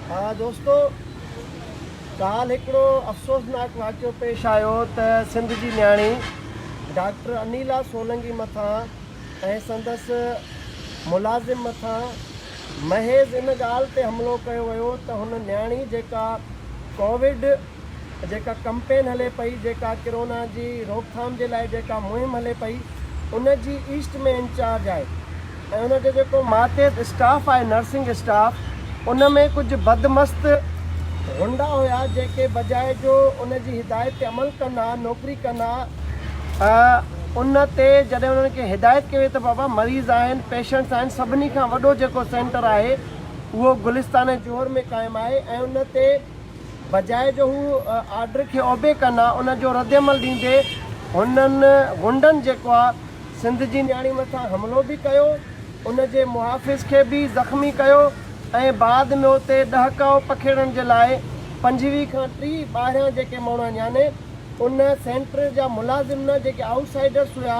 ها دوستو ڪالهه هڪڙو افسوسناڪ واقعو پيش آيو ته سنڌ جي نياڻي ڊاڪٽر انيلا سولنگي مٿان ۽ سندس ملازم مٿان محيز ان ڳالهه تي حملو ڪيو ويو ته هن نياڻي جيڪا ڪووڊ جيڪا ڪمپين هلي پئي، جيڪا ڪرونا جي روڪٿام جي لاء جيڪا مهم هلي پئي ان جي ايسٽ ۾ انچارج آهي ۽ ان جو جيڪو ماتحت اسٽاف آهي نرسنگ اسٽاف ان ۾ ڪجهه بدمست غنڊا هيا جيڪي بجاء جو ان جي هدايت تي عمل ڪن ها نوڪري ڪن ها ان تي جڏهن انهن کي هدايت ڪئي وئي ته بابا مريض آهن پيشنٽس آهن سڀني کان وڏو جيڪو سينٽر آهي اهو گلستان جوهر ۾ قائم آهي ۽ ان تي بجاء جو هو آرڊر کي اوبي ڪن ها ان جو ردعمل ڏيندي هنن غنڊن جيڪو آ سنڌ جي نياڻي مٿان حملو به ڪيو ان جي محافظ کي به زخمي ڪيو ۽ بعد ۾ اتي ڏهڪاء پکيڙڻ جي لاء پنجويهه کان ٽيهه ٻاهريان جيڪي ماڻهو آهن يعني ان سينٽر جا ملازم نه جيڪي آئوٽ سائيڊرس هيا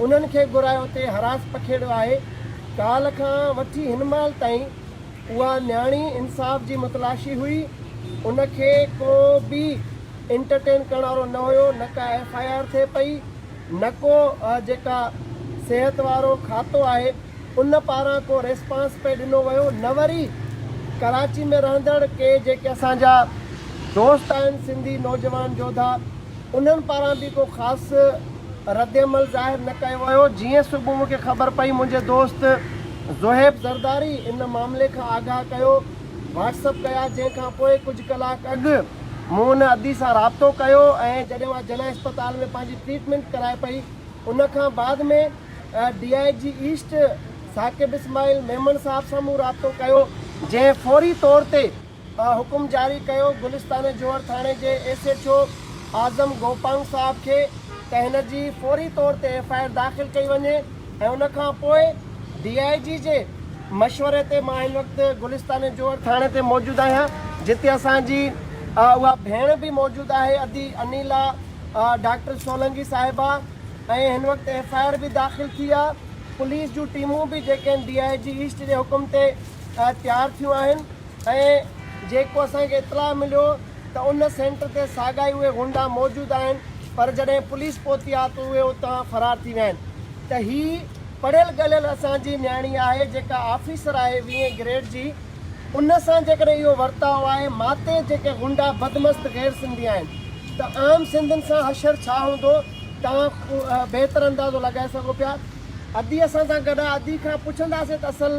انهن کي گهرائي اتي حراس پکيڙيو آهي ڪالهه کان وٺي هن مهل تائين اها نياڻي انصاف جي متلاشي هئي ان کي ڪو به انٽرٽين ڪرڻ وارو نه هيو نه ڪا ايف آء آر ٿئي پئي نه ڪو جيڪا صحت وارو کاتو آهي ان پاران ڪو ريسپانس پئي ڏنو ويو نه وري ڪراچي ۾ رهندڙ ڪي جيڪي اسان جا دوست آهن سنڌي نوجوان جوڌا انهن پاران به ڪو خاص ردعمل ظاهر نه ڪيو ويو، جيئن صبح مون کي خبر پئي منهنجي دوست زوهيب زرداري ان معاملي کان آگاهه ڪيو، واٽس اپ ڪيا جنهن کان پوء ڪجهه ڪلاڪ اڳ مون ان ادي سان رابطو ڪيو ۽ جڏهن اها جناح اسپتال ۾ پنهنجي ٽريٽمينٽ ڪرائي پئي ان کان بعد ۾ D I G east Saqib Ismail Memon صاحب سان مون رابطو ڪيو جنهن فوري طور تي حڪم جاري ڪيو گلستان جوهر ٿاڻي جي S H O Azam Gopang صاحب کي ته هن جي فوري طور تي ايف آء آر داخل ڪئي وڃي ۽ ان کان پوء ڊي آء جي جي مشوري تي مان هن وقت گلستان جوهر ٿاڻي تي موجود آهيان جتي اسان جي اها ڀيڻ به موجود آهي ادي انيلا ڊاڪٽر سولنگي صاحبه ۽ هن وقت ايف آء آر به داخل ٿي آ پوليس جون ٽيمون به جيڪي ڊي آء جي ايسٽ جي حڪم تي تيار ٿيون آهن. ۽ جيڪو اسان کي اطلاع مليو ته ان سينٽر تي ساڳا ئي اهي غنڊا موجود آهن پر جڏهن پوليس پهتي آهي ته اهي اتان فرار ٿي ويا آهن ته هي پڙهيل ڳلهيل اسان جي نياڻي آهي جيڪا آفيسر آهي ويهين گريڊ جي ان سان جيڪڏهن اهو ورتاء آهي ماتي جيڪي غنڊا بدمست غير سنڌي آهن ته عام سنڌين سان حشر ڇا هوندو توهان بهتر اندازو لڳائي سگهو پيا ادي اسان سان گڏ آهي ادي کان پڇنداسين ته اصل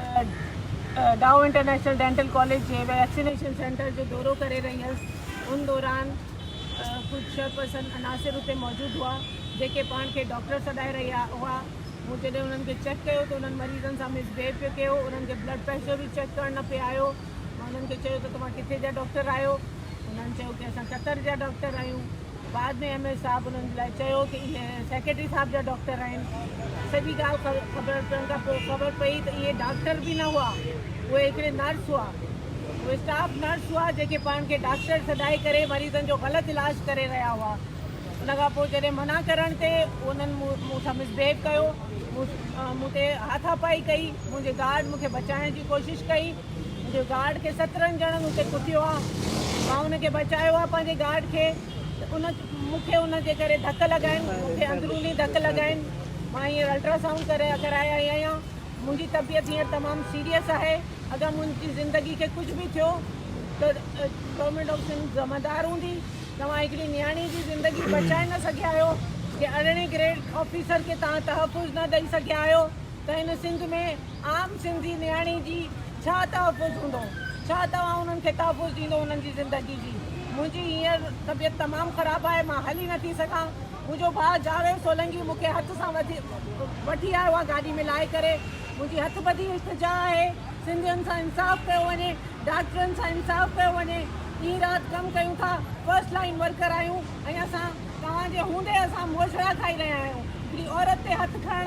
ڊائو انٽرنيشنل ڊينٽل ڪاليج جي ويڪسينيشن سينٽر جو دورو ڪري رهي هيس ان دوران ڪجهه شر پسند عناصر اتي موجود هئا جيڪي پاڻ کي ڊاڪٽر سڏائي رهيا هئا مون جڏهن انهن کي چيڪ ڪيو ته انهن مريضن سان مس بهيو پيو ڪيو انهن کي بلڊ پريشر به چيڪ ڪرڻ نه پيو آيو مون انهن کي چيو ته توهان ڪٿي جا ڊاڪٽر آهيو انهن چيو ته اسان قطر جا ڊاڪٽر آهيون بعد ۾ ايم اي صاحب انهن لاء چيو ته اهي سيڪريٽري صاحب جا ڊاڪٽر آهن. سڄي ڳالهه خبر پيڻ کان پوء خبر پئي ته اهي ڊاڪٽر به نه هئا، اهي هڪڙي نرس هئا. اهي اسٽاف نرس هئا جيڪي پاڻ کي ڊاڪٽر سڏائي ڪري مريضن جو غلط علاج ڪري رهيا هئا. ان کان پوء جڏهن منع ڪرڻ تي انهن مون سان مس بهيو ڪيو، مون تي هاٿا پائي ڪئي، منهنجي گارڊ مون کي بچائڻ جي ڪوشش ڪئي. جو گارڊ کي سترهن ڄڻن اتي ڪٽيو آ مان ان کي بچايو آ پنهنجي گارڊ کي ته ان مون کي ان جي ڪري ڌڪ لڳائين مون کي اندروني ڌڪ لڳائين مان هينئر الٽرا سائونڊ ڪري ڪرائي آئي آهيان منهنجي طبيعت هينئر تمام سيريس آهي اگر منهنجي زندگي کي ڪجهه به ٿيو ته گورنمينٽ آف سنڌ ذميدار هوندي توهان هڪڙي نياڻي جي زندگي بچائي نه سگهيا آهيو ڪي ارڙهين گريڊ آفيسر کي توهان تحفظ نه ڏئي سگهيا آهيو ته هن سنڌ ۾ عام سنڌي نياڻي جي ڇا تحفظ هوندو؟ ڇا توهان انهن کي تحفظ ڏيندو انهن جي زندگي جي؟ منهنجي هينئر طبيعت تمام خراب آهي مان هلي نه ٿي سگهان منهنجو ڀاء جاويد سولنگي مون کي هٿ سان وڌي وٺي آيو آهي گاڏي ۾ لاهي ڪري منهنجي هٿ ٻڌي التجا آهي سنڌين سان انصاف ڪيو وڃي ڊاڪٽرن سان انصاف ڪيو وڃي ڏينهن رات ڪم ڪيون ٿا فرسٽ لائين ورڪر آهيون ۽ اسان توهان جي هوندي اسان موجهڙا کائي رهيا آهيون هڪڙي عورت تي هٿ کڻڻ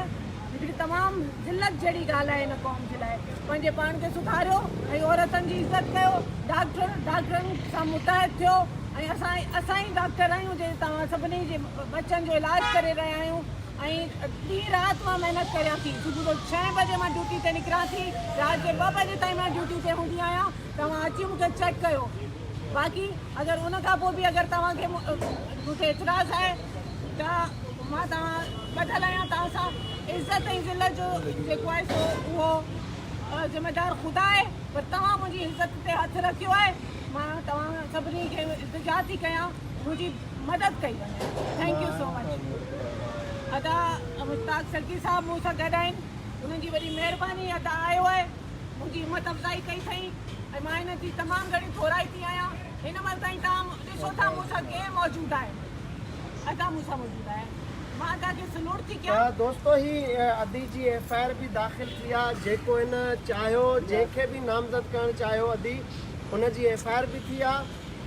هڪ تمام ذلت جهڙي ڳالهه آهي هن قوم جي لاء پنهنجي پاڻ کي سڌاريو ۽ عورتن جي عزت ڪيو ڊاڪٽر ڊاڪٽرن سان متحد ٿيو ۽ اسان اسان ئي ڊاڪٽر آهيون جي توهان سڀني جي ٻچن جو علاج ڪري رهيا آهيون ۽ ڏينهن رات مان محنت ڪريان ٿي صبح جو ڇهين بجي مان ڊيوٽي تي نڪران ٿي رات جي ٻه بجي تائين مان ڊيوٽي تي هوندي آهيان توهان اچي مون کي چيڪ ڪيو باقي اگر ان کان پوء به اگر توهان کي مون کي اعتراض آهي ته مان سان ٻڌل آهيان توهان سان عزت ۽ ذلت جو جيڪو آهي سو اهو ذميدار خدا آهي پر توهان منهنجي عزت تي هٿ رکيو آهي مان توهان سڀني کي التجا ٿي ڪيان منهنجي مدد ڪئي وڃي ٿينڪ يو سو مچ ادا مشتاق سرڪي صاحب مون سان گڏ آهن انهن جي وڏي مهرباني ادا آيو آهي منهنجي همت افزائي ڪئي اٿئي ۽ مان هن جي تمام گهڻي ٿورائتي آهيان هن مهل تائين تمام ڏسو تان مون سان ڪير موجود آهي ادا مون سان موجود آهي مان تان کي سلوٽ ٿي ڪيان دوستو هي ادي جي ايف آئي آر به داخل ٿي آ جيڪو هن چاهيو جنهن کي به نامزد ڪرڻ چاهيو ادي ان جي ايف آئي آر به ٿي آ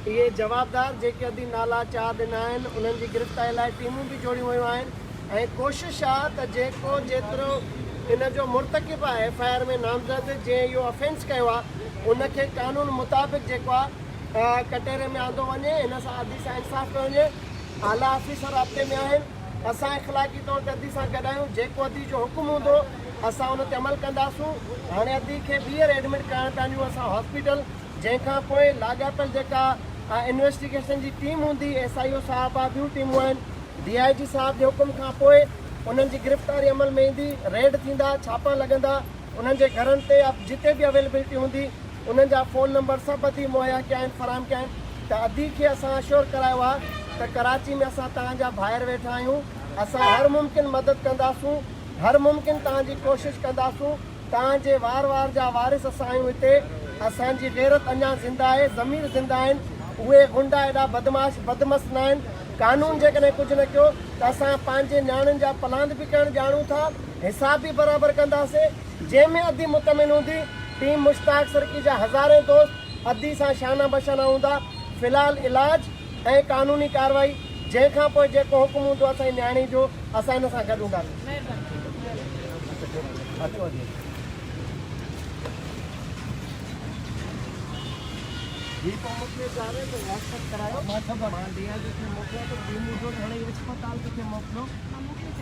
اهي جوابدار جيڪي ادي نالا چا ڏنا آهن انهن جي گرفتاري لاء ٽيمون به جوڙيون ويون آهن ۽ ڪوشش آ ته جيڪو جيترو ان جو مرتڪب آ ايف آئي آر ۾ نامزد جنهن اهو افينس ڪيو آ ان کي قانون مطابق جيڪو آ ڪٽهري ۾ آندو وڃي، هن سان ادي سان انصاف ڪيو وڃي، اعليٰ آفيسر رابطي ۾ آهن، اسان اخلاقي طور تي ادي سان گڏ آهيون، جيڪو ادي جو حڪم هوندو اسان ان تي عمل ڪنداسون، هاڻي ادي کي ٻيهر ايڊمٽ ڪرائڻ پينديون اسان هاسپيٽل، جنهن کان پوء لاڳاپيل جيڪا انويسٽيگيشن جي ٽيم هوندي، ايس آء او صاحب آهي، ٻيون ٽيمون آهن، ڊي آء جي صاحب جي حڪم کان پوء انهن جي گرفتاري عمل ۾ ايندي، ريڊ ٿيندا، ڇاپا لڳندا، انهن جي گهرن تي جتي به اويلبلٽي هوندي، انهن جا فون نمبر سڀ ادي مهيا ڪيا آهن فراهم ڪيا آهن ته ادي کي اسان اشور ڪرايو آهي ته ڪراچي ۾ اسان توهان جا ڀائر ويٺا آهيون اسان هر ممڪن مدد ڪنداسون هر ممڪن توهان جي ڪوشش ڪنداسون توهان جي وار وار جا وارث اسان آهيون هتي اسان جي غيرت اڃان زنده آهي ضمير زنده آهن اهي غنڊا ايڏا بدمعاش بدمست ناهن قانون جيڪڏهن ڪجهه نه ڪيو ته اسان پنهنجي نياڻين جا پلاند به ڪرڻ ڄاڻون ٿا حساب به برابر ڪنداسين جنهن ۾ ادي مطمئن هوندي، ٽيم مشتاق سرڪي جا هزارين دوست ادي سان شانه بشانه هوندا، في الحال علاج ۽ قانوني ڪارروائي جنهن کان پوء جيڪو حڪم هوندو اسانجي نياڻي جو اسان هن سان گڏ هونداسين.